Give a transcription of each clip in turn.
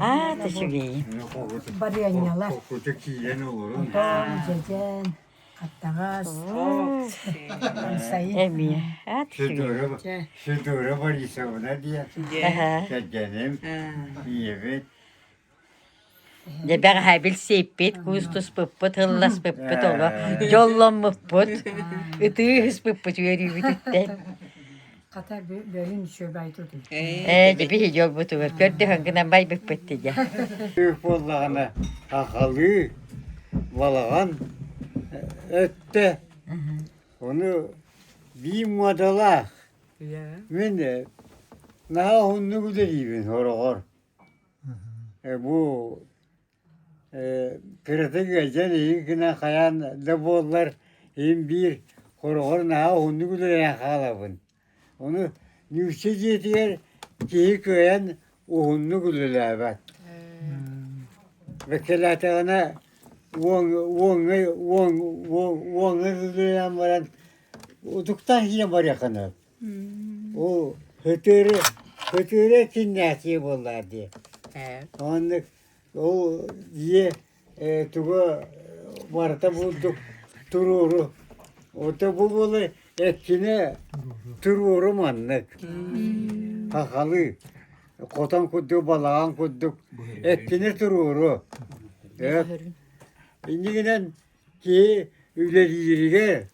аат үчүгэйин барыанньалар утаан дьэдьэн аттаҕас амсайын эмиэ аат үчүгэй Федора Борисовна диэн кэргэним ийэбит Дьэбэх аһа билсиппит, куустуспуппут, ылласпыппыт оло, дьолломмуппут, ытыы ыспыппыт үөрүүбүтүттэн Хата бөйүн чөбай тутуй. Ээ, били дьолбутугар көрдөһөн гынан байбыппыт дидэ. Үөх буоллаҕына ахалыы, балаҕан өттө. Ону бии муодалаах. Мен наһаа уһуннук үлэлиибин хороҕор. Бу кыратык эдьэн эйиги гына хайаан да буоллар иһин биир хороҕор наһаа уһуннук үлэлээн хаалабын ону ньуучча дьиэтигэр киһи кыайан уһуннук үлэлээбэт бэккэлээтэҕинэ уоҥ уоҥҥай уоҥ уоҥҥай үлэлээн баран утуктаан киирэн барыаххына ол һытыыры һытыыры эккиннээтиэ буоллар дии оннук Ол дьиэ туга барыта булдук туруору. Ото бу буолу эккине туруору маннык. Хахалы хотон курдук балаҕан курдук эккине туруору. Иннигинэн киһи үлэлииригэ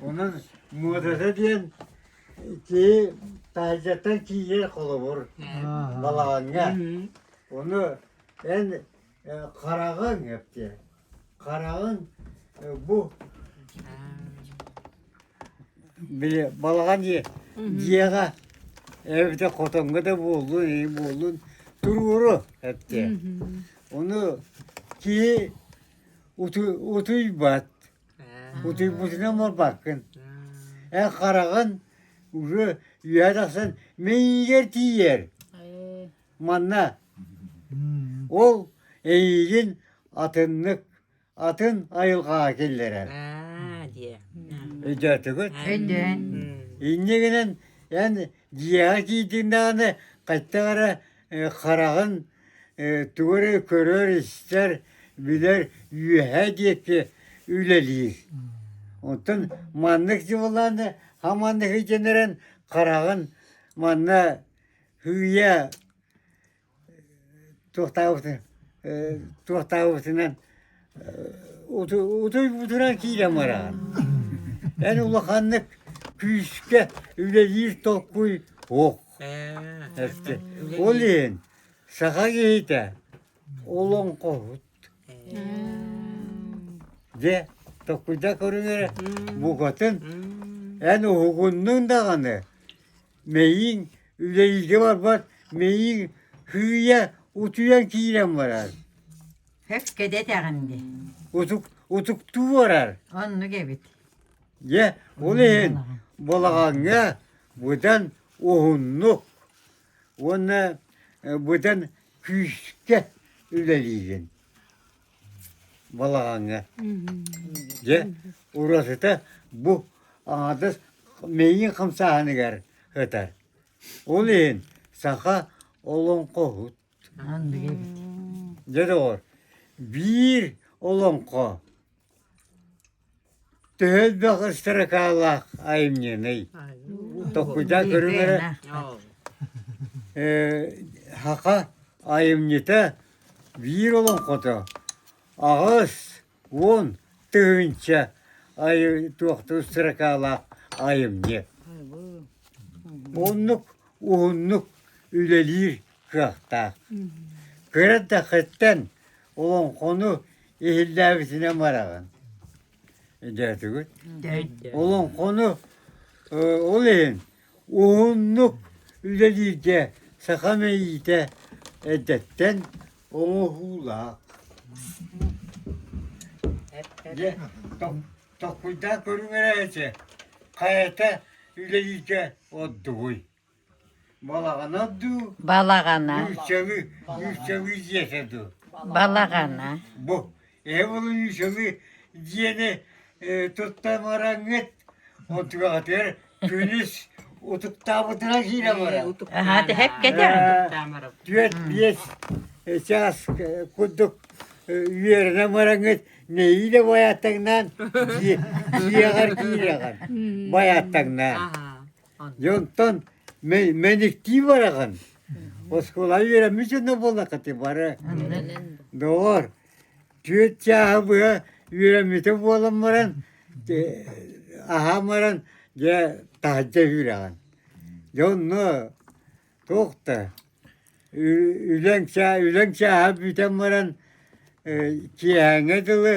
Онон муодата диэн киһи таһырдьаттан тиийэр холобур балаҕаҥҥа. Ону эн хараҕыҥ эптиэ. Хараҕыҥ бу били балаҕан дьиэҕэ эбэтэ хотоҥҥо да буоллун ии буоллун туруору эптиэ. Ону киһи утуйбат Бутуйбутунан морбаккын. Эн хараҕын уже үһэ тахсан мэнигэр тиийэр. Манна ол эйигин атыннык атын айылҕаҕа киллэрэр. Өйдөөтүгүт? Өйдөөн. Инньэ гынан эн дьиэҕэ киирдиҥ даҕаны хайта эрэ хараҕын тугу эрэ көрөр-истэр, билэр үөһэ диэки үлэлиир. Оттон маннык дьыбылааны ха маннык илдьэн эрэн хараҕын манна һыыйа туохтаабытын туохтаабытынан Утой бутуран киирэн бараан. Эн улаханнык күүскэ үлэлиир толкуй суох. Ол иһин саха киһитэ олоҥхоһут. Дьэ, токуйда көрүҥ эрэ букатын эн уһугуннуҥ даҕаны Мэйииҥ үлэлииргэ барбат, мэйииҥ һыыйа утуйан киирэн барар. Хөккө дэтэҕин дии. Утук, утуктуу барар. Оннук эбит. Дьэ, ол иһин балаҕаҥҥа быдан уһуннук уонна э, быдан күүскэ үлэлиигин. балаҕаҥҥа дьэ уратыта бу аҥардас миигин хамсааһыныгар ытар ол иһин саха олоҥхоһут дьэ доҕор биир олоҥхо Төһө элбэх ыстаракаалаах айымньыный? Токкуйдаа көрүҥ эрэ. Э, Саха айымньыта биир олоҥхото аҕыс уон тыһыынча айы туохтуу ыстаракаалаах айымньы. Оннук уһуннук үлэлиир кыахтаах. Кыра да хоть олоҥхону иһиллээбитинэн бараҕын дөөтүгүт олоҥхону ол иһин уһуннук үлэлииргэ саха мэйиитэ эддэттэн оҥоһуулаах Токкуйдаа көрүҥэр эти хайата үлэлииргэ ордугуй Балаҕана дуу? Балаҕана. Нүүччэли, нүүччэли дьиэтэ дуу? Балаҕана. Бу, ээ булу нүүччэли дьиэни э, туттан бараҥҥыт, отугатыгар күнүс утуктаабытына киирэ барар. Аһаа, тэһэк кэтэ. Түөрт, биэс э, чаас э, курдук үөрэнэн бараҥҥыт неиле байаттаҥнаан дьиэҕэр киирэҕэр байаттаҥнаан. Дьэ онтон мэниктии бараҕын. Оскуола үөрэммит дьоно буоллахха ити бары. Доҕор, түөрт чааһы быһа үөрэммитэ буолан баран, аһаан баран, дьэ таһырдьа үһүрэҕин. Дьэ онно туох да үлэҥ чаа үлэҥ чааһа бүтэн баран киэһээҥҥэ дылы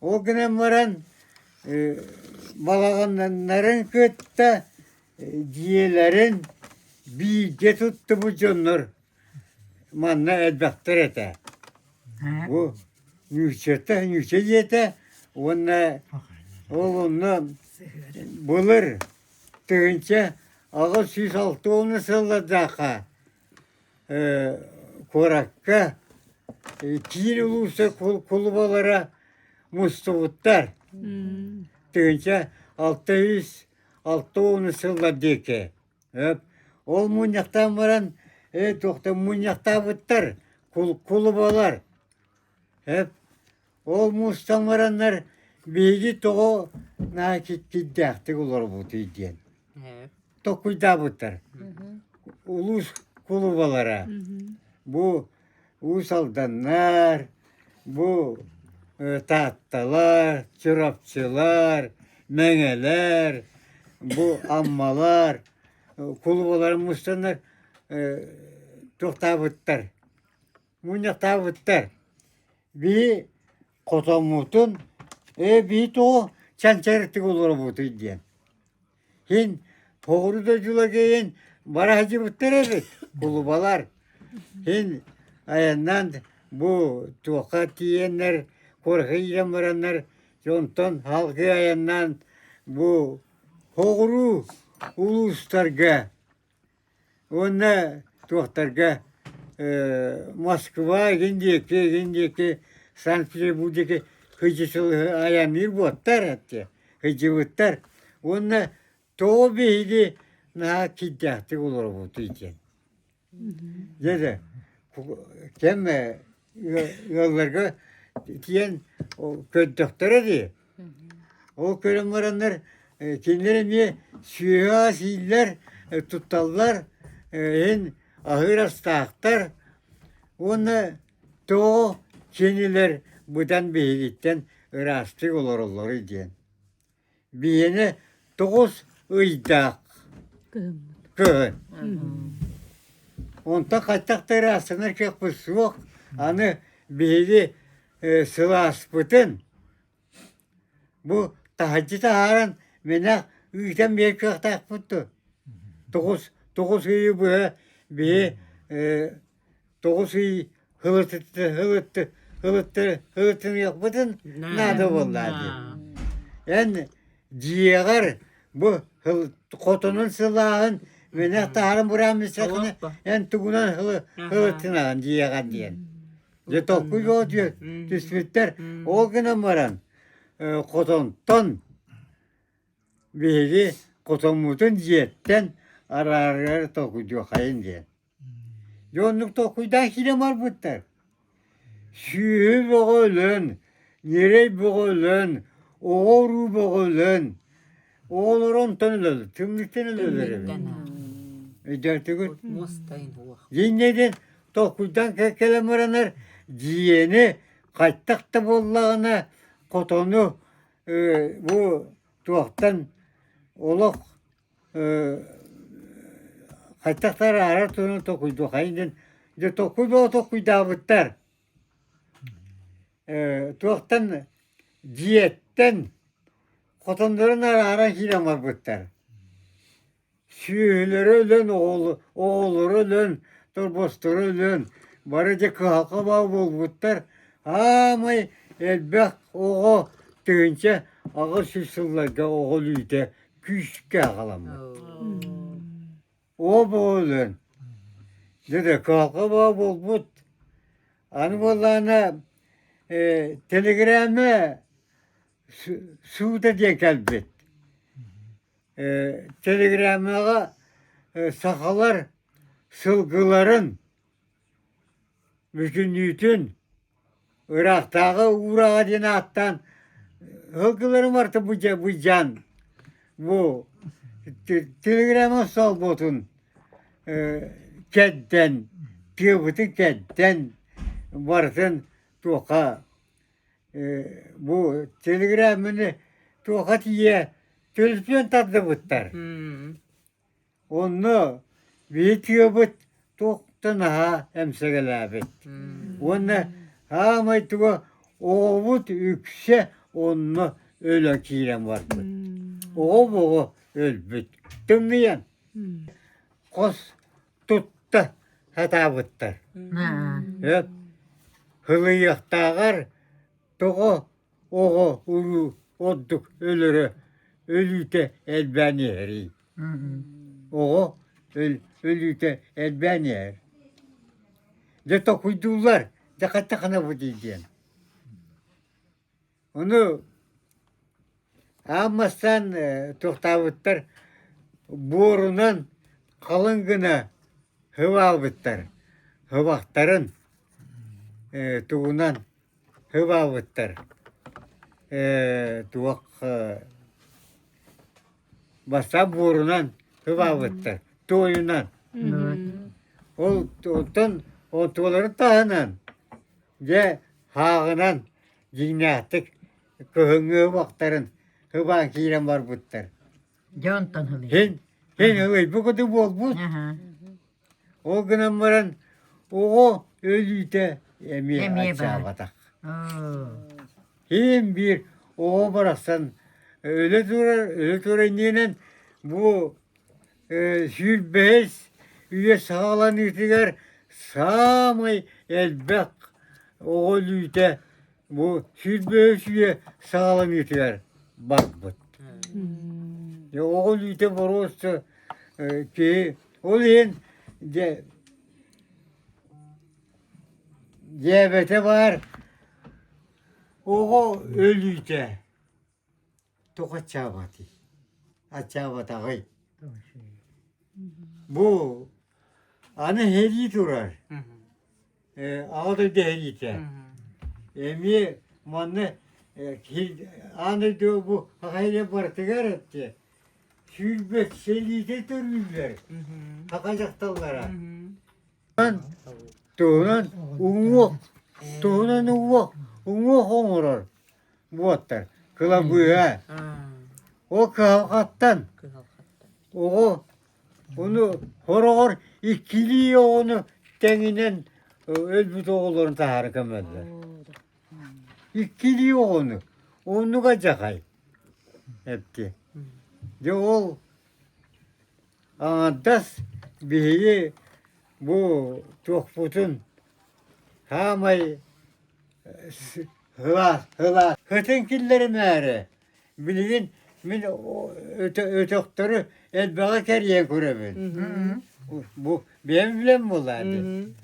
Ол гынан баран балаҕаннарын кытта дьиэлэрин бииргэ туттубут дьоннор манна элбэхтэр этэ. Бу Нюшата, Нюша ийэтэ уонна ол онно былыр тыһыынча аҕыс сүүс алта уонна сыллардаахха куоракка киин улууса кулубалара мустубуттар тыһыынча алта үс алта ууну сыллар диэки ол мунньахтаан баран ээ туохта мунньахтаабыттар кулубалар Ол мустан бараннар биһиги тоҕо наачиччиттээхтик олоробутуй диэн токуйдаабыттар. Улуус кулубалара бу Уус Алданнар, бу Таатталар, Чурапчылар, Мэҥэлэр, бу Аммалар кулубаларын мустаннар туохтаабыттар. мунньахтаабыттар бии хотоммутун ээ бии тоҕо чанчарыктык олоробутуй диэн син тоҕуру да дьулагэйин бара сылдьыбыттар эбит кулубалар син айаннаан бу туохха тиийэннэр куоракыйан бараннар онтон салгыы айаннаан бу соҕуруу улуустарга Уонна туохтарга Москва игин диэки игин диэки Санкт-Петербурге кыдьысылыһы айанныыр буоттар эти кыдьыбыттар уонна тоо биһиги наһаа киддээхтик олоробут диэн дьэ кэм ыалларга тиийэн көрдөхтөрө дии. Ол көрөн бараннар кинилэр эмиэ сүөһү сииллэр, тутталлар, иһин аһыыр астаахтар уонна тоҕо кинилэр быдан биһигиттэн ыраастык олороллоруй диэн Биэни тоҕус ыйдаах кыһын. Онтон хайтах да ыраастанар кыахпыт суох. Аны биһиги сылааспытын бу таһырдьа таһааран мэнэх ыытан биэр кыахтаахпыт дуо? Тоҕус, тоҕус ыйы быһа биһи тоҕус ый ылыттыты ылытты ылытты ылыттыныахпытын наада буоллаа дии эн дьиэҕэр бу хотонун сылааһын мэнэх таһарын бырааммыссакыны эн тугунан ылыттынаҕын дьиэҕэр диэн дьэ толкуй боо диө түспүттэр ол гынан баран хотонтон биһиги хотоммутун дьиэттэн араарыары толкуйдуоххайын диэн Дьэ оннук толкуйдаан киирэн барбыттар. Сүөһү бөҕө өлөн, ньирэй бөҕө өлөн, оҕо-уруу бөҕө өлөн, оҕолоро онтон өлөлөр, түннүктэн өлөлөр эбит. Өйдөтүгүт? Дьиҥнэтин толкуйдан кэлэн баранар дьиэни хайтах да буоллаҕына хотону бу туохтан олох Хайтах да араарар туһунан толкуйдуоххай гын дьэ толкуй бөҕө толкуйдаабыттар туохтан дьиэттэн хотоннорун арааран киирэн барбыттар сүөһүлэрэ өлөн оҕолоро өлөн торбосторо өлөн бары дьэ кыһалҕа баҕа буолбуттар аамай элбэх оҕо тыһыынча аҕыс сүүс сылларга оҕо өлүүтэ күүскэ аҕаламмыт. Оо бу өлөн. Деде каалга баа буолбут. Аны буоллаана э, телеграмма суута диэн кэлбит. Э, телеграммаға э, сақалар сылгыларын Бүтүннүүтүн ыраахтааҕы уурааҕа диэн ааттаан сылгылары барыта былдьаан бу телеграмма солбуотун кэрдэн тыабытын кэрдэн барытын туоха бу телеграмманы туоха тиийэ төлөпүөн тардыбыттар Онно видеобыт туохта наһаа эмсэгэлээбит уонна саамай туга оҕобут үксэ онно өлө киирэн барбыт. Оҕо боҕо өлбүт. Тымныйан хос тутта сатаабыттар. Өп хылыйыахтааҕар тоҕо Оҕо улуу ордук өлөрө өлүүтэ элбээн иһэрий оҕо өлүүтэ элбээн иһэр дьэ толкуйдууллар дьэ хата ханабыт диэн ону аан бастаан туохтаабыттар буорунан халыҥ гына һыбаабыттар һыбахтарын тугунан Һыбаабыттар ээ туох бассаап буорунан һыбаабыттар туойунан ол оттон оттууларын таһынан дьэ һааҕынан дьиҥнээхтик кыһыҥҥы һыбахтарын һыбаан киирэн барбыттар Дьэ онтон ылыйын. Син син ылый бу куду буолбут. Аха. Ол гынан баран оҕо өлүүтэ эмиэ Эмиэ баар. ачаабатах. Оо. Ким биир оҕо барахсан өлө турар өлө турар иннинэн бу э, сүүрбэһис үйэ саҕаланыытыгар саамай элбэх оҕо өлүүтэ бу сүүс бөөсүйэ сааланыытыгар барбыт. Оҕо илиитэ боруоста киһи ол иһин диабете бар оҕо өлүүтэ Туох ачаабатый? Ачаабатаҕый? Бу аны эһэрии турар. Э, Аҕа дойду эһэриитэ. Эмиэ манна э, киһи- аан дойду бу Хахайля барытыгар эттэ сүүрбэк сэлиитэ төрүүллэр Хаха дьахталлара. туһунан уҥуох туһунан уҥуох уҥуох оҥорор буолтар кылабыыһа ол кыһалҕаттан оҕо ону хороҕор иккилии оҕону тэҥинэн өлбүт оҕолорун таһаары көмөллөр иккилии оҕону оннуга дьахай эпти дьэ ол Аҥардас биһиги бу туохпутун хаамай һылаах һылаах һытын киллэримээри билигин мин өтөхтөрү элбэҕи кэрийэн көрөбүн. Бу бэйэм билэн буоллаа дии.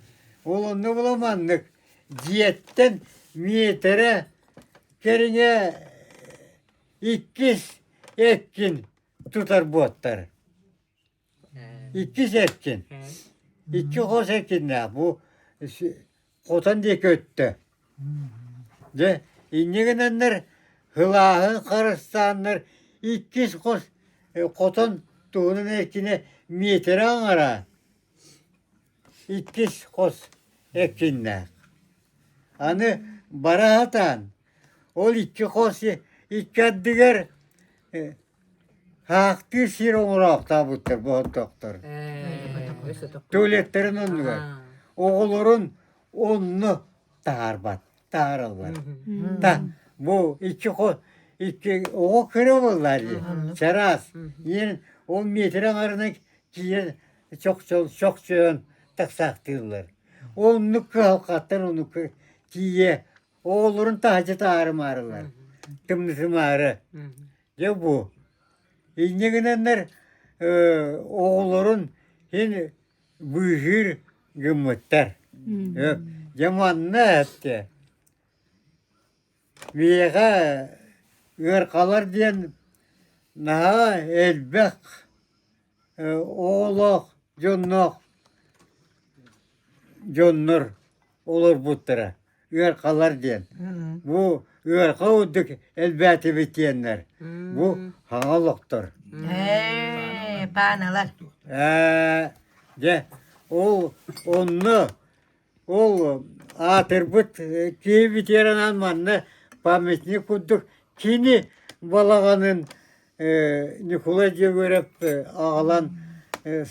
Ол онно була маннык дьиэттэн миэтэрэ кэриҥэ иккис эккин тутарбыттар иккис эркин икки хос эркиннээх бу хотон диэки өттө дьэ иннигинэннэр һылааһын харыстааннар иккис хос хотон туһунан эркинэ миэтэрэ аҥараан иккис хос эркиннээх аны бара сатаан Ол икки хос икки ардыгар хаахтыыр сир оҥороохтообуттар боһоттоохтор. Туалеттарын оннугар. Оҕолорун онно таһаарбат, таһаараллар. Та бу икки хос икки оҕо кыра буоллар дии. Чараас. Ийэн ол метр аҥарынан киирэн чохчойон тахсаахтыыллар. Оннук кыһалҕаттан оннук тиийэ оҕолорун таһачата маарылар тымнысымаары дьэ бу инньэ гынаннар оҕолорун син быыһыыр гыммыттар дьэ манна этте миэхэ ыархалар диэн наһаа элбэх оҕолоох дьонноох дьоннор олорбуттара ыаркалар диэн бу ыарка ордук элбээтибитиэннэр бу хаҥа олохтор пааналар ээ дьэ ол онно Ол аатырбыт киһи ветеранаан манна памятник курдук кини балаҕанын Ньукулай Дьөгүөрэп аҕалан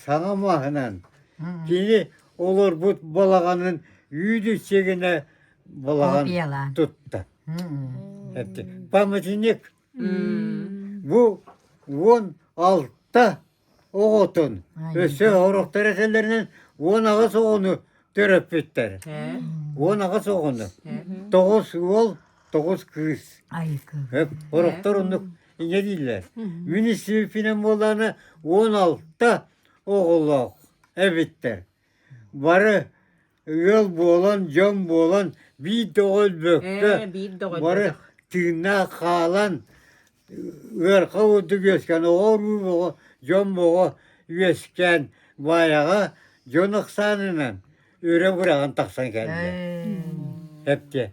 саҥа мааһынан кини олорбут балаҕанын үүт-үччэ гына балаҕан тутта. Памятник бу уон алта оҕотун өссө оҕуруктар этэллэринэн уон аҕыс оҕону төрөппүттэр уон аҕыс оҕону тоҕус уол тоҕус кыыс оруктар оннук ингэ дииллэр муниципальнай буоллаҕына он алта оҕолоох эбиттэр бары Ыал буолан, дьон буолан биир да оҕо өлбөккө, Ээ, биир да оҕо бары өлбөтөх. тыыннаах хаалан, ыарха курдук үөскээн, оҕо уруу оҕо, дьон боҕо үөскээн, Баайаҕа дьон ыксаанынан үрэ быраҕан тахсан кэллэ. Ээ, Эптиэ,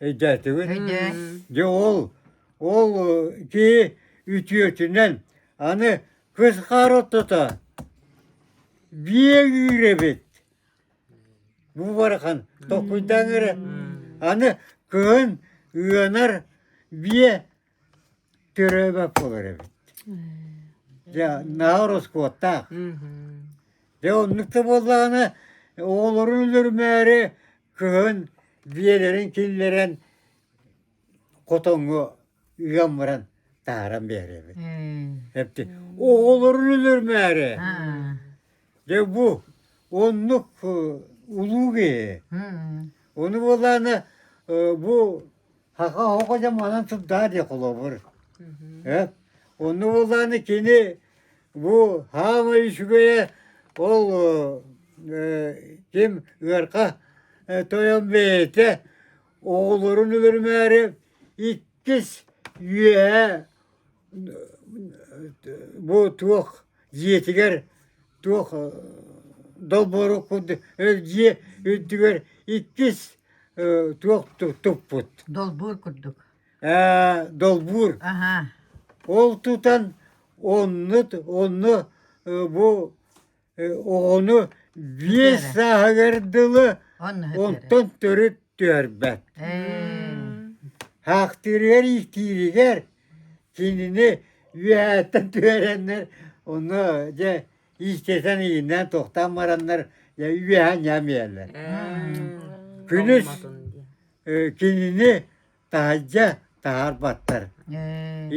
өйдөөтүгүн? өйдөө. Дьэ ол, ол э, киһи үтүөтүнэн аны кыс хаар ортото биэ үүрэ эбит. Бу барахан токкуйдаан эрэ аны кыһын ыанар биэ төрөөбөт буолар эбит. Дьэ наһаа ороскуоттаах. Дьэ оннук да буоллаҕына оҕолорун өлөрмөөрү кыһын биэлэрин киллэрэн хотоҥҥо ыам баран тааран биэрэбит. Эпти оҕолорун өлөрмээри. Дэ бу оннук улуу киһи. Ону буолаана бу хаха хоко дьа манан тутаа дии холобур. Э? Онну буолааны кини бу хаамай үчүгэйэ ол ким ыарка тойон бэйэтэ оҕолорун өлөрмөөрү иккис үөһэ бу туох дьиэтигэр туох долбоору курдук дьиэ үрдүгэр иккис туох туппут долбуур курдук ээ долбуур аха ол тутан оннут онно бу оҕону биэс сааһыгар дылы онтон төрүт түөрбэт хаахтыырыгар-ииктииригэр кинини үөһэттэн түһэрэннэр онно дьэ иистэтэн ииннээн туохтаан бараннар дьэ үөһэ ньамиэлэр күнүс кинини таһайдьа таһаарбаттар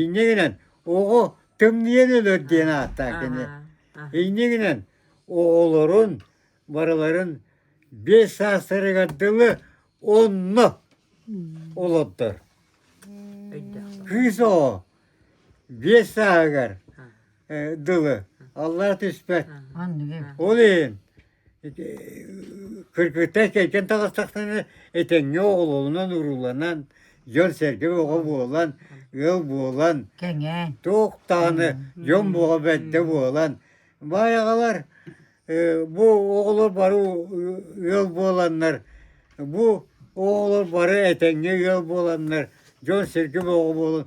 инньэ гынан оҕо тымныйан өлөр диэн ааттаах кини инньэ гынан оҕолорун барыларын биэс саастарыгар дылы онно олордор кыыс оҕо биэс сааһыгар дылы аллара түспэт ол иһин Кыргыттар кэлгэн таҕыстахтына этэҥҥэ оҕолорунан урууланан дьон-сэргэ бөҕө буолан, ыал буолан, кэҥээн, туох даҕаны дьон бөҕө бэрдэ буолан, баайаҕалар бу оҕолор бары ыал буоланнар, бу оҕолор бары этэҥҥэ ыал буоланнар дьон-сэргэ бөҕө буолан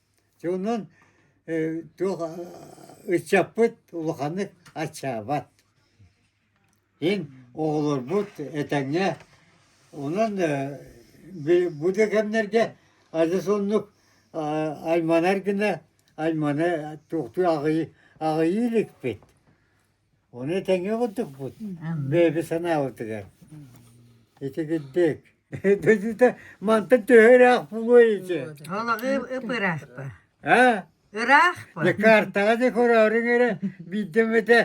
Онон туох ыччаппыт улаханнык аччаабат. Ин оҕолорбут этэҥҥэ онон бу да кэмнэргэ адьас оннук айманар гына айманы туохтуу аҕыйыы иликпит. Ону тэҥҥэ курдукпут бэйэби санаабытыгар. Итигирдик. Дойдута мантан төһө ыраах буолуой ити? Олоҕу ыпыраахпа. А? Ыраахпа. Дьэ картаҕа дьэ көрөөрүҥ эрэ биирдэмэтэ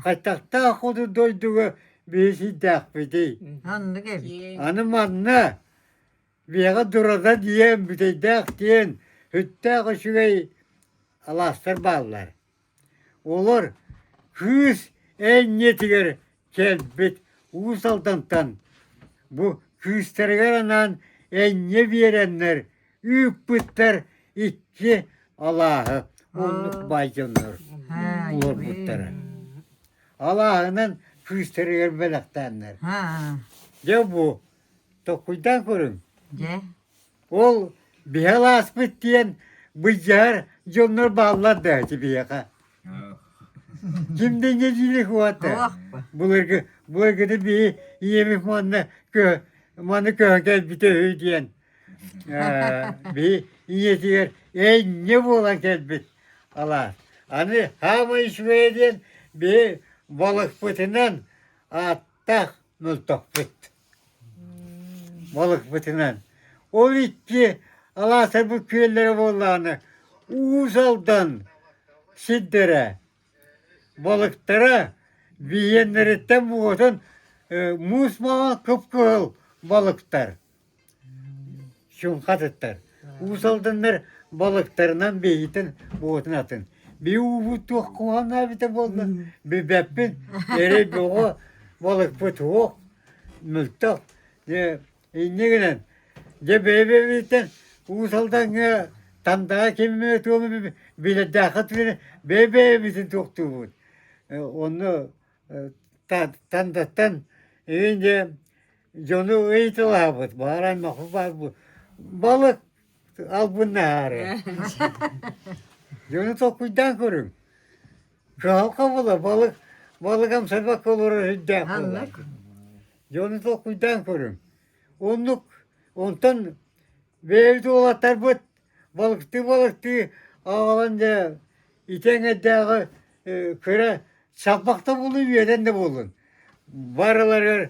хайтахтаах хоту дойдуга биһи сирдээхпитий. Оннук эбит. Аны манна биэҕэ дурата диэн бүтэйдээх диэн хүттээх үчүгэй алаастар бааллар. Олор кыыс энньэтигэр кэлбит Уус Алдантан бу кыыстарыгар анаан энньэ биэрэннэр ыыппыттар икки алааһы оннук байдьаннар олорбуттара. Алааһынан кыыстарыгар бэлэхтээннэр. Дьэ бу, толкуйдаан көрүҥ. Дьэ. Ол биһэ алааспыт диэн быдьаар дьоннор бааллар да ити биһиэхэ. Ким да иҥэтиилих уота. Былыргы былыргыны биһи ийэбит манна кө маны көһөн кэлбитэ үһү диэн биһи ийэтигэр энньэ буолан кэлбит алаас. Аны хаамай үчүгэйэ диэн биһи балыкпытынан ааттаах мөлтөхпүт. Балыкпытынан. Ол икки алаатарбыт күөллэрэ буоллаҕына Уус Алдан сирдэрэ балыктара биһиэннэриттэн буотан муус маҥан кып-кыһыл балыктар Чуҥхатыттан Уус Алданнар балыктарынан бэйэтин буотун атын би уубут туох куһаҕана эбитэ буолла бибэппин эрэ бөҕө балыкпыт суох мөлтөх инньэ гынан дьэ бэйэ-бэйэбититтэн Уус Алдаҥҥа Тандаҕа киммэ туону билэрдээххэ тыына бэйэ-бэйэбитин туохтуубут онно Тандаттан инде дьону ыйытылаабыт баар аймахы баарбыт балык албын наары дьону толкуйдаан көрүҥ жаал хабыла балык балык амсарбакка олорор ирдээх буолар дьону толкуйдаан көрүҥ оннук онтон бэйэбит уолаттарбыт Балыктыы-балыктыы аҕалан дьэ ити эҥэрдээҕи кыра чаппах да буоллун үөдэн да буоллун барыларыгар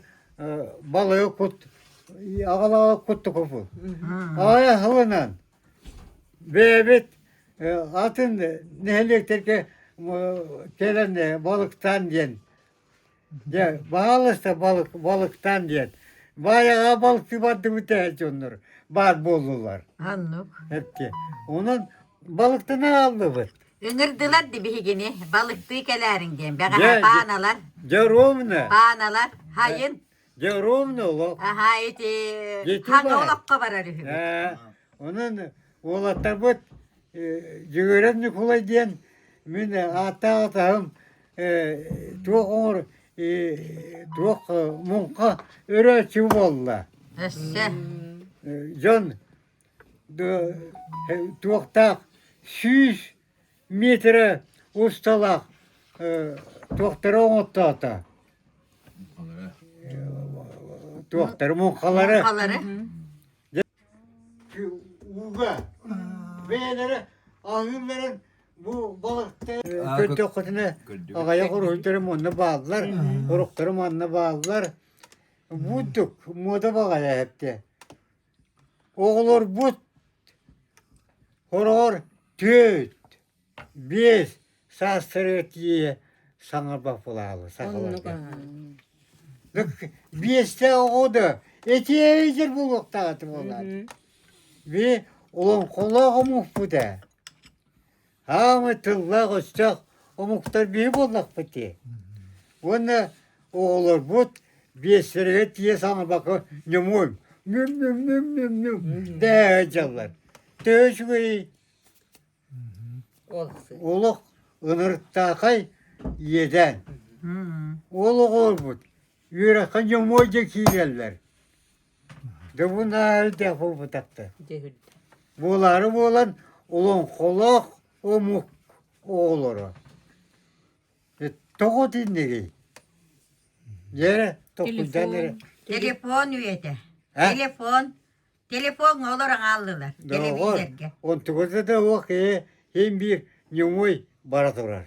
балыгы кут аҕалаҕа куттукупу аҕай аһылынан бэйэбит атын нэһилиэктэргэ кэлэн балыктаан диэн Дьэ, баҕаласта балык, балыктаан диэн. Баайаҕа балыкчы бардыбыт ээ дьоннор баар буоллулар. Оннук. Эпти. Онон балыктаны ааллыбыт. Ыҥырдылар ди биһигини, балыктыы кэлээриҥ диэн. Бэҕэһээ пааналар, дьэ ровно. пааналар, хайын. Дьэ, ровно олох. Аһаа ити ханна олохко барар үһү. Онон уолаттарбыт Дьөгүрэн Ньукулай диэн мин ааттаах атаһым туох оҥор туох муҥха өрөөччү буолла. Өссө. Дьон туохтаах сүүс Миитэрэ усталаах туохтары оҥоттоото? Туохтары муҥхалары? Ууга бэйэлэрэ аһыылларын бу балыктары көрдөххүтүнэ аҕайах уруһуйдары манна бааллар, уруктары манна бааллар. Мундук муода баҕайа эһэптэ. Оҕолорбут хороҕор төрүт, биэс саастарыгар тиийэ саҥа баһылаалы саҕаларга. Биэстээх оҕо да этиэйдэр буолуохтаах этэ буоллар. Би олоҥхолоох омукпут ээ. Саамай тыллаах-өстөөх омуктар биһи буоллахпыт дии. Уонна оҕолорбут биэстэригэр тиийэ саҥарбакка ньумуой ньүм-ньүм-ньүм-ньүм-ньүм дээһэ дьаллар. Төһө үчүгэй олох ынырыктаахай иэдээн. Ол оҕолорбут үөрэххэ ньумуой диэн киирэллэр. Дыбынаалда булбутапты. Буолаары буолан олоҥхолоох омук оҕолоро. Тоҕо диннери? Дьэрэ, токуйдан эрэ. Телефон үйэтэ. Телефон. Телефон олор аҕаллылар. Телевизорга. Онтугута да уох иһин биир ньумой бара турар.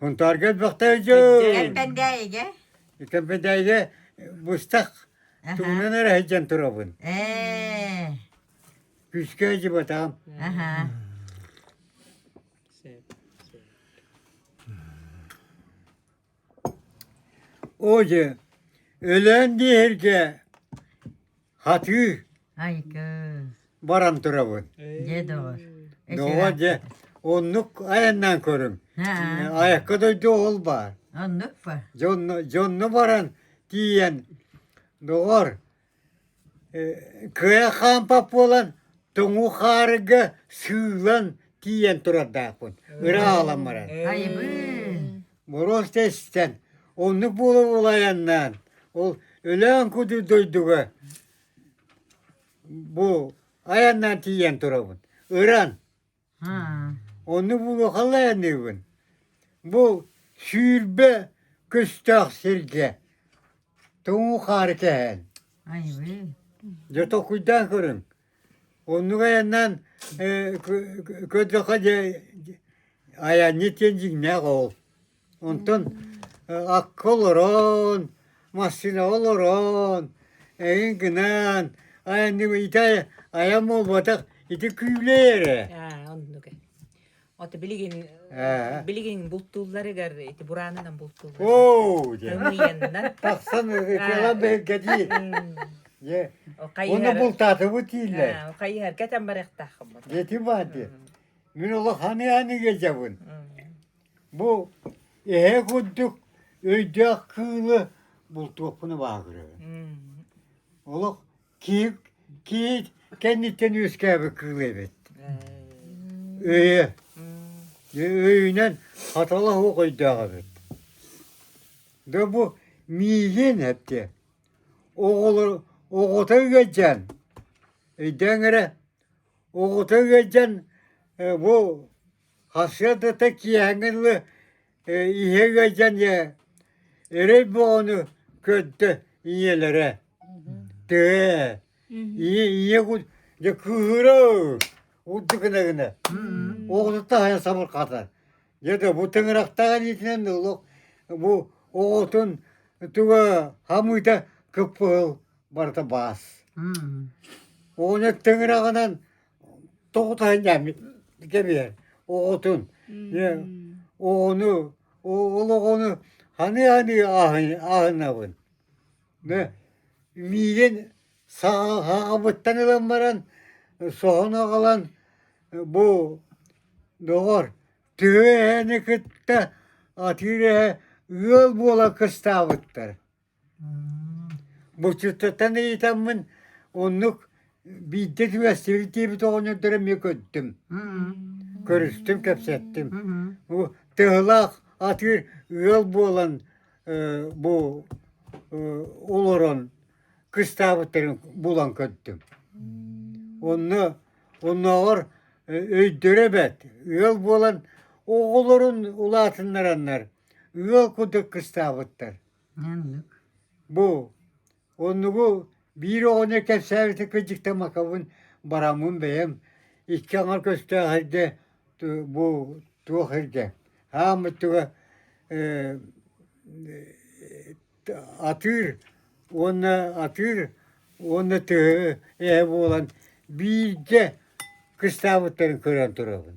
Хунтаарга элбэхтээйдьөй. Кэмпэндээйигэ. Кэмпэндээйигэ быстах тугунан эрэ сылдьан турабын. Ээ. Күүскэ дьыбатаҕым. Аха. Оо дьэ, өлөөн диэһэргэ Хатыы Айгы баран турабын. дьэ доҕор Доҕор дьэ оннук айаннаан көрүҥ. Айакка дойду ол баар. оннук па Дьонно, дьонно баран тиийэн доҕор э, кыа хаампап буолан тоҥу хаарыга сыылан тиийэн турардаахпын. Ырааҕалан баран. айбын Боруос да истэн, оннук буола буола айаннаан, ол Өлөөн кудур дойдуга бу айаннаан тиийэн турабын. Ыран. Онну булу хала айаныыбын. Бу сүүрбэ көстөөх сиргэ тоҥу хаары кэһэн. Дьэ толкуйдаан көрүҥ. Оннук айаннаан көрдөххө дьэ айанньыт диэн дьиҥнээх оол. Онтон акка олорон, массыынаҕа олорон, эҥин гынаан айанньык ити айан буолбатах ити күүлэй эрэ. Аа оннук ээ. Ото билигин билигин бултуулларыгар ити бураанынан бултууллар. Оо, дьэ. Тымыйаннар. Тахсан ытыалар бэһиргэ дии. Дьэ. Оны бултаатыбы тииллер. Хайыһар кэтен барыктаахым. Дети бар дии. Мен олох ханы-ханы келжебін. Бу эһе күндүк өйдөөх кыылы бултуоппуну баһагырыгын. Олох Киин киин кэнниттэн үөскээбит кыыл эбит. Өйө. Өйүнэн хатала суох өйдөөх эбит. Да бу миигин эпти. Оҕолор оҕото үгәдҗән. Өйдәң эрэ оҕото үгәдҗән бу хасыйадата киәңгелі Ийэ ыалдьан эрэй боону көрдө ийэлэрэ тээ ийэ ийэ дьэ кыыһыра урдук гына гына оҕотуттан хайа сабырҕатар дьэ да бу тыҥырахтаах илиитинэн олох бу оҕотун туга хамыыта кыппыһыл барыта баас оҕону тыҥыраҕынан тоҕутаан дьааммыт кэмигэр оҕотун оҕону олоҕону ханыы-ханыы ааһынабын миигин саабыттан ылан баран соһон аҕалан бу доҕор төһө эһэни кытта атыыр эһэ ыал буола кыстаабыттар Бочуоттатан ыйытаммын оннук биирдэ түбэстибит диэбит оҕонньордоро эмиэ көрдүм көрүстүм кэпсэттим бу тыһылаах атыыр ыал буолан бу олорон кыстаабыттарын булан көрдүм онно оннооҕор өйдөрө бэрт ыал буолан оҕолорун улаатыннараннар ыал курдук кыстаабыттар Бу оннугу биир оҕону кэпсээбитин кырдьыктан макабын бараммын бэйэм икки аҥар көстөөх эргэ бу туох эргэ хааммыт туга атыыр уонна атыыр уонна тыһы эһэ буолан биирдэ кыстаабыттарын көрөн турабын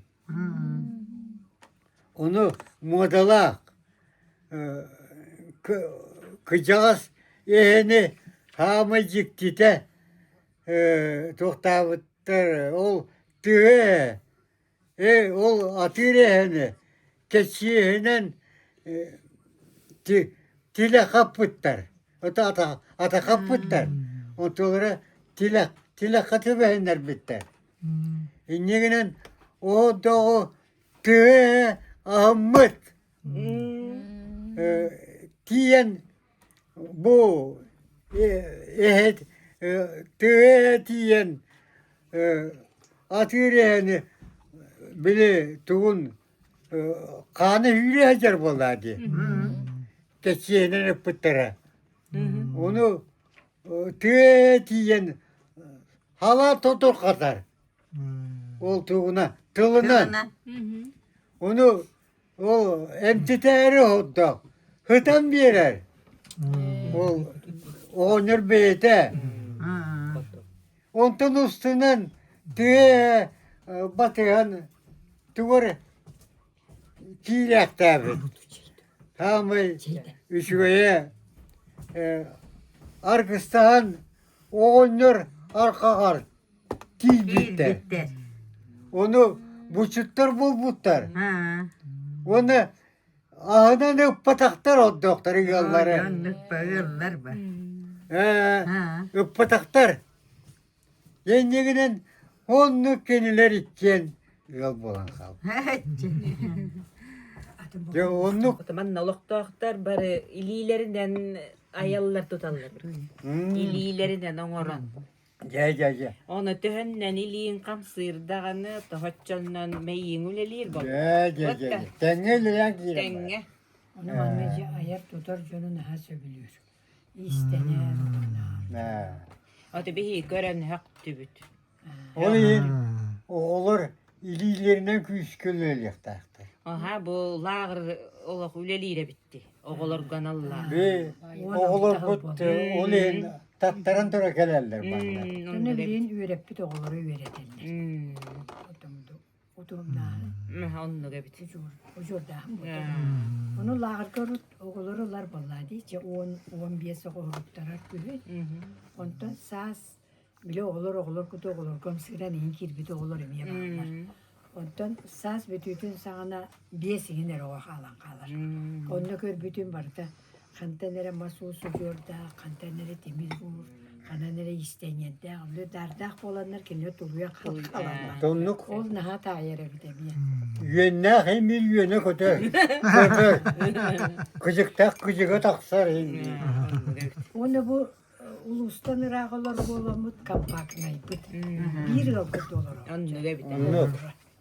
Ону муодалаах кыдьаҕас иһини хаамай дьиктитэ туохтаабыттар ол тыа ээ ол атыыр иһэни кэчииһинэн тилэ хаппыттар атахха тубэһиннэрбиттэр Инньэ гынан оо доҕу төһө аһыммыт тиийэн бу эһэт төһө тиийэн атыыр эһэни били тугун хаана үүрэ сылдьар буоллаа дии кэчиэһинэн ыппыттара ону тыа тиийэн хала туту хатар олтугуна тылынан ону ол эмтитээри ордох хытан биэрэр ол оҕонньор бэйэтэ онтон устунан тыа батыһан тугар киирээхтээбит саамай үчүгэйэ аргыстаһан оҕонньор арҕаҕар тиийбиттэр ону булчуттар булбуттар уонна аһынан ыппатахтар ордуктар ыаллары ыппатахтар Иннигинэн оннук кинилэр иккиэн ыал буолан хаалбыт. Дьэ оннук Отуманна олохтоохтор бары илиилэринэн айаллар туталлар. М, Илиилэринэн оҥорон. Дьэ дьэ дьэ. Оны төһөннөн илииҥ хамсыыр даҕаны, тоһоччоннон мэйииҥ үлэлиир болла. Дьэ дьэ дьэ. дьэ. Тэҥҥэ үлэлээн киирэн. барар. Тэҥҥэ. Ону манна дьэ айар-тутар дьону наһаа сөбүлүүр. Ээ. Аты биһи көрөннөхтүбүт. Ол иһин оҕолор илиилэринэн күүскөлөлүөхтээхтэр. Аха бу лааҕыр олох үлэлиирэ битти оҕолорго аналлаах. Бии оҕолорбут ол иһин таттаран тура кэлэллэр манна. Оны билин үөрэппит оҕолору үөрэтэллэр. утумнаахын оннук эбит удьуор удьуордаахын буолар ону лааҕырга урут оҕолор ылар боллаа дии че он он биэс оҕо уруттарар үһүт онтон саас били оҕолор оҕолор куту оҕолорго ымсыыран иһин кирбит оҕолор эмиэ бааллар онтон саас бүтүүтүн саҕана биэс иһин эрэ оҕо хаалан хаалар онно көрбүтүн барыта Хантан эрэ мас уус удьуордаах, хантан эрэ тимир уур, ханан эрэ истэниэрдээх, удаардаах буоланнар кинилэр туруйан-хаалан Э, хаалаллар. Оннук. Ол наһаа таайар эбит эмиэ. Үөннээх имир үөнэ көтөр. Көтөр. Кыдьыктаах кыдьыга тахсар indi. Уонна бу э, улуустан ыраах олор буоламмыт компактнайбыт. Мгм. Биир ыалга толоро. Оннук эбит. Оннук.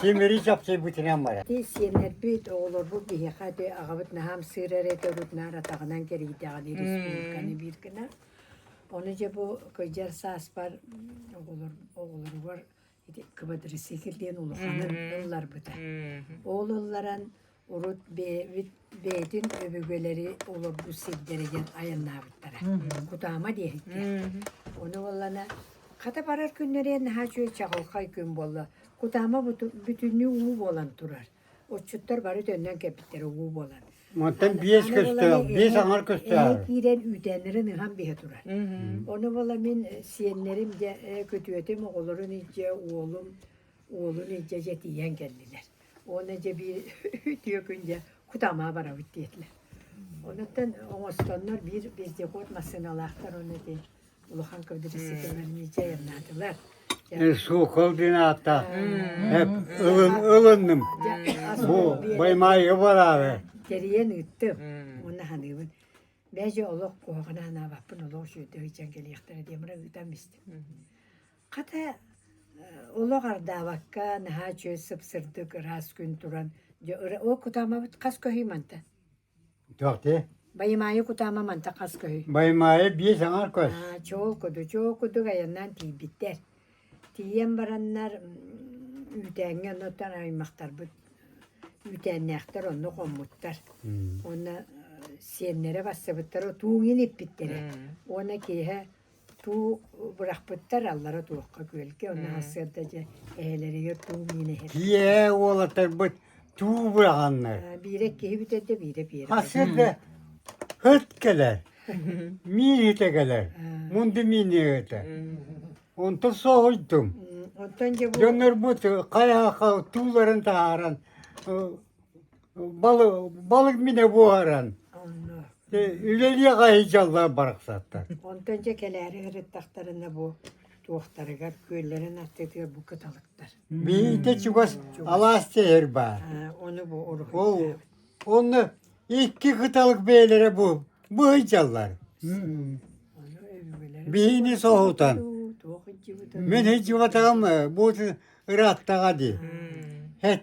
Симири чапсыйбытынан барар Ити сиэннэрбит, оҕолорбут биһиэхэ ити аҕабыт наһаа ымсыыра эрэ этэ урут наар атаҕынан кэрийдэҕин республиканы биир гына. Ону дьэ бу кыдьар сааспар оҕолор оҕолоругар ити квадрицикл диэн улаханын ылларбыта. Ол ылларан Урут бэйэбит бэйэтин өбүгэлэри олорбут сирдэригэр айаннаабыттара. Кутаама диэһиккэ. Ону буоллана хата барар күннэрэ наһаа үчүгэй чаҕылхай күн буолла. Кутаама бүтүннүү уу буолан турар. Отчуттар бары төннөн кэлбиттэрэ уу буолан. Мантан биэс көстөөх, биэс аҥар көстөөх. киирэн үүтээннэрин ыһан биһэ турар. Ону буола мин сиэннэрим дьэ, көтүөтүм оҕолорун илдьэ, уолум уолун илдьэ дьэ тиийэн кэллилэр. Уонна дьэ биир үтүө күн дьэ Кутама барабыт диэтилэр. Онуттан оҥостоннор биир вездеход массыыналаахтар онно ити улахан кыбдырыссытылар миичэ айаннаатылар. Сокол динаата. Ылын ылынным. Бу баймайы барары. Кэрийэн ыыттым. Онна ханыыбын. Бэжи олох куһаҕан анаабаппын олох үтөй дьэн кэлиэхтэрэ диэн мара ыытан бистим. Хата, олох ардаабакка, наһаа үчүгэй сып-сырдык, ыраас күн туран, дьэ, ол кутаамабыт хас көһүй мантан? Туох дии? Баймаайы кутаама мантан хас көһүй? Баймаайы биэс аҥар көс. Аа, чоокудук, чоокудук айаннаан тиийбиттэр. Тиийэн бараннар, үүтээҥҥэ оннуттан аймахтарбыт үүтээннээхтэр онно хоммуттар. Уонна сиэннэрэ барсыбыттара, тууҥ ииппиттэрэ. Уонна киэһэ Туу бырахпыттар аллара туохха күөлгэ оннооҕор сыарда дьэ эһэлэригэр туу миинэ иһэр. Ийээ уолатарбыт туу быраҕаннар. Биирэ киһи бүтэрдэ биирэ пиэрэ. Хасырда ыт кэлэр. Мииһитэ кэлэр. Мунду мииниэҕитэ. Онтон соһуйдум. Онтон дьэ бу дьоннорбут хайаха тууларын таһааран Бал балык минэ буһаран э, үлэлиэҕэ сылдьаллар барахсаттар. Онтон дьэ кэлээри ырыттахтарына бу туохтарыгар күөллэрин аттытыгар бу кыталыктар. Биирдэ чугас алаас дьэһэр баар. Аа, Ону бу урут Ол онно икки кыталык бэйэлэрэ бу быһыйдаллар. Ону өбүгэлэр Биһини соһутан. туох итдьибитэ. Мин сыдьыбатаҕым э, бу ырааттаҕа дии. Хет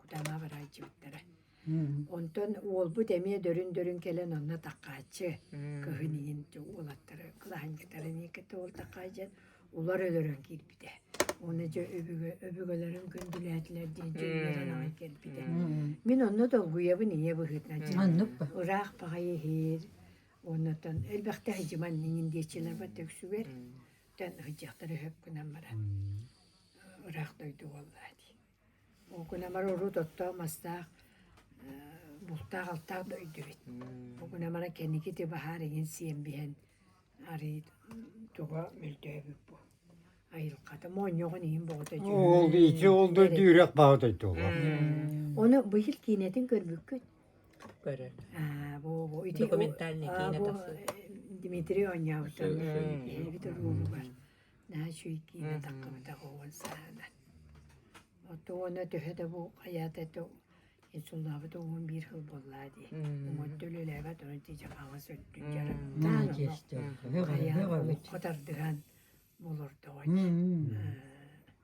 Кутанаах ыраайчыбыттара. Онтон уолбут эмиэ дөрүн-дөрүн кэлэн онно такааччы кыһын иһин уолаттары кылаһынньыктарын иэккэ тоҕор такаайдьан улар өлөрөн киирбитэ. Уонна дьэ өбүгэ өбүгэлэрин күндүлээтилэр диэн дьүүллэрэн аҕай кэлбитэ. Мин онно долгуйабын ийэ быһыытынан. Маннык ба. Ыраах баҕайы иһиир. Оннуттан элбэхтэ сыдьыман иҥин диэччилэрбэр төгсүгэр. Тан ыһдьахтары хөп гынан баран. Ыраах дойду буоллаа дии. Уу кунамар урут оттоох-мастаах бултаах-алтаах да өйдүбүт. Уу кунамара кэнникити баһаар иҥин сиэн биһэн арыый туга мөлтөөбүт бу айылҕата моонньоҕон иһин бөҕөтө Ол ити ол да үрэх баҕа дойдулаах. Ону быйыл киинэтин көрбүккүт? Көрөр. Аа бу бу ити документальный киинэ тахсыбыт. Дмитрий оонньообутун эбит улуубугар. Наһаа үчүгэй киирбэтэххэ бытаҕа уон сааһына. Оту уона төһө да бу хайаата это инсуллаабыта уон биир хыл буоллаа дии. Уонта үлэлээбэт онон тиичэ хаалас өттүн дьарык. Наһаа киэстээх. Хайаан оххо тардыһан болортоҕой.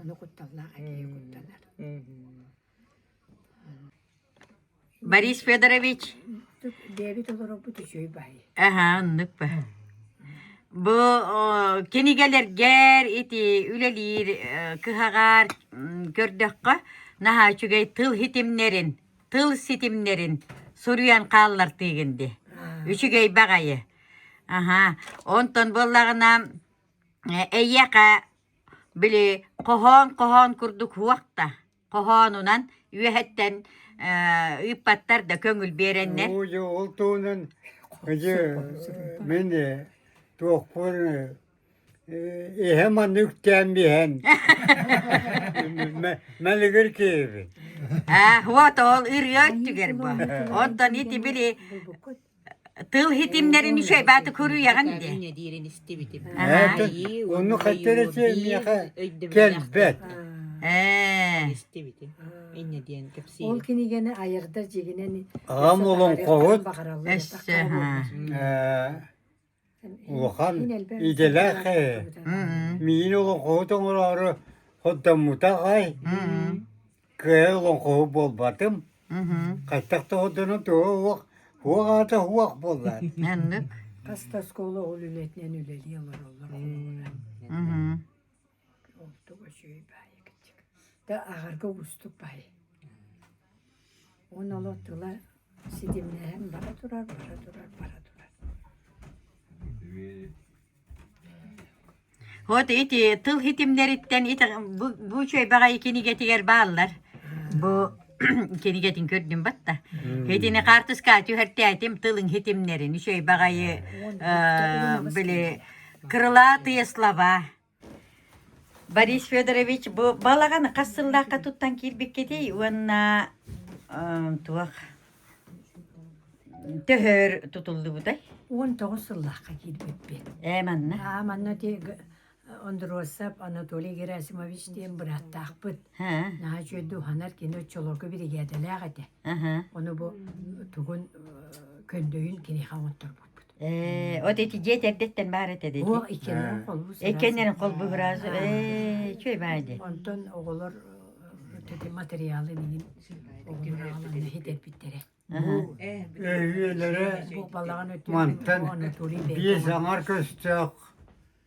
Ону кутталлаах әкей куттанар. Борис Федорович. Диабет олорбут үчүй бай. Аха, оннук ба. Бу кинигэлэргэр ити үлэлиир кыһаҕар көрдөххө наһаа үчүгэй тыл хитимнерин, тыл ситимнерин суруйан хааллартыгын ди. Үчүгэй баҕайы. Аха, онтон боллагына эйиэхэ Били хоһоон-хоһоон курдук һуохта, хоһоонунан үөһэттэн ыыппаттар да көҥүл биэрэннэр Нуучу ултуунан мин туохпун иһэ манна үктээн биһэн мэлигир киһибин Ээ, вот ол ырыа өттүгэр бу. Онтон ити били тыл хитимнэрин үчүгэйбэти көрүйэҕин диэ ону хотели миэхэ кэлбэт ээ ол кинигэни айардар дьиэгинэн аҕам олоҥхоһут эссе улахан идэлээх ээ миин олоҥхоһут оҥороору хордоммута ай кыайа олоҥхоһу буолбатым хайтах тоҕордону туһа уох уох аата уох буоллар хастаскола ол үлэтинэн үлэлии олороллор Ордук үчүгэй баайа кырдьык. Да агарга уустук баай. Уон оло тыла ситимнэһэн бара турар, бара турар, бара турар. Вот эти тыл хитимнериттен ити бу бу чөйбэҕэй кинигэтигэр бааллар. Бу кинигэтин көрдүм батта. Итини картыска түһэртээтим тылың хитимнерин, үчөйбэҕэйи э, били крылатые слова. Борис Федорович бу балаҕан хас сыллаахха туттан киирбиккитий уонна туох төһөр тутуллубутай? Он тоғыз сыллаахха киирбиппит. Ээ манна? Аа манна ти Ондросов Анатолий Герасимович диэн бырааттаахпыт. Наһаа үчүгэйдик уһанар кино чолоку биригээдэлээх этэ. Ону бу тугун көрдөйүн киниэхэ оҥотторбуппут. Э, вот эти дети эрдэттэн баар этэ дети. О, иккилэрин холбуу Иккилэрин холбуу сыраасы. Э, үчүгэй баар ди. Онтон оҕолор материалы мин үлэһит эппиттэрэ. Эйиэлэрэ мантан биэс аҥар көстөөх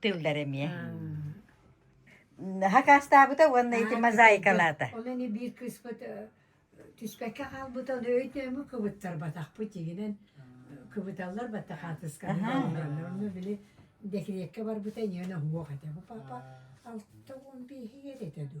тыллар эмиэ. Хакаастаабыта уонна ити мозаикалаата. Ол ини биир кыыспыт түспэккэ хаалбыта ол өйдөмө кыбыттарбатахпыт тигинэн кыбыталлар батта хаатыскабытталлар онно били декретке барбыта иньиэн оһуох этэ бу папа алта он бииһигэр этэ ду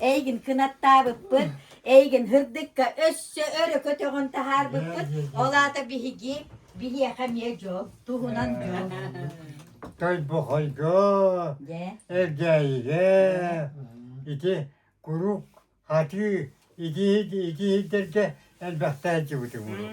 Эйигин кынаттаабыппыт, эйигин һырдыкка өссө өрө көтөҕөн таһаарбыппыт. Ол аата биһиги биһиэхэ эмиэ дьол туһунан дьол. Тойбохойго, Эргээйигэ ити куруук атыы итии итиирдэргэ элбэхтэ сылдьыбытым уруок.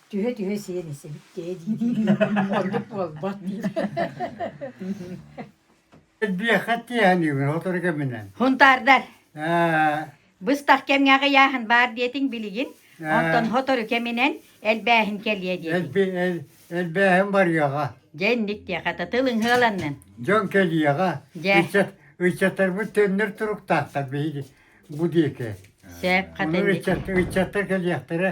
Түһэ-түһэ сиэн эсэбиттээ дии-дии оннук буолбат диир. Биэхэ тиэхиниибин отор кэминэн. Хунтаардар. Быстах кэмҥэ аҕыйааһын баар диэтиҥ билигин. Онтон хотору кэминэн элбээһин кэлиэ диэтиҥ. Элбээһин барыаҕа. Дьэнник диэхэтэ тылың хыаланнын. Дьон кэлиэҕэ. Ыччаттарбыт төннөр туруктаахтар биһиги бу диэки. Сээп хатанник. Ыччаттар кэлиэхтэрэ.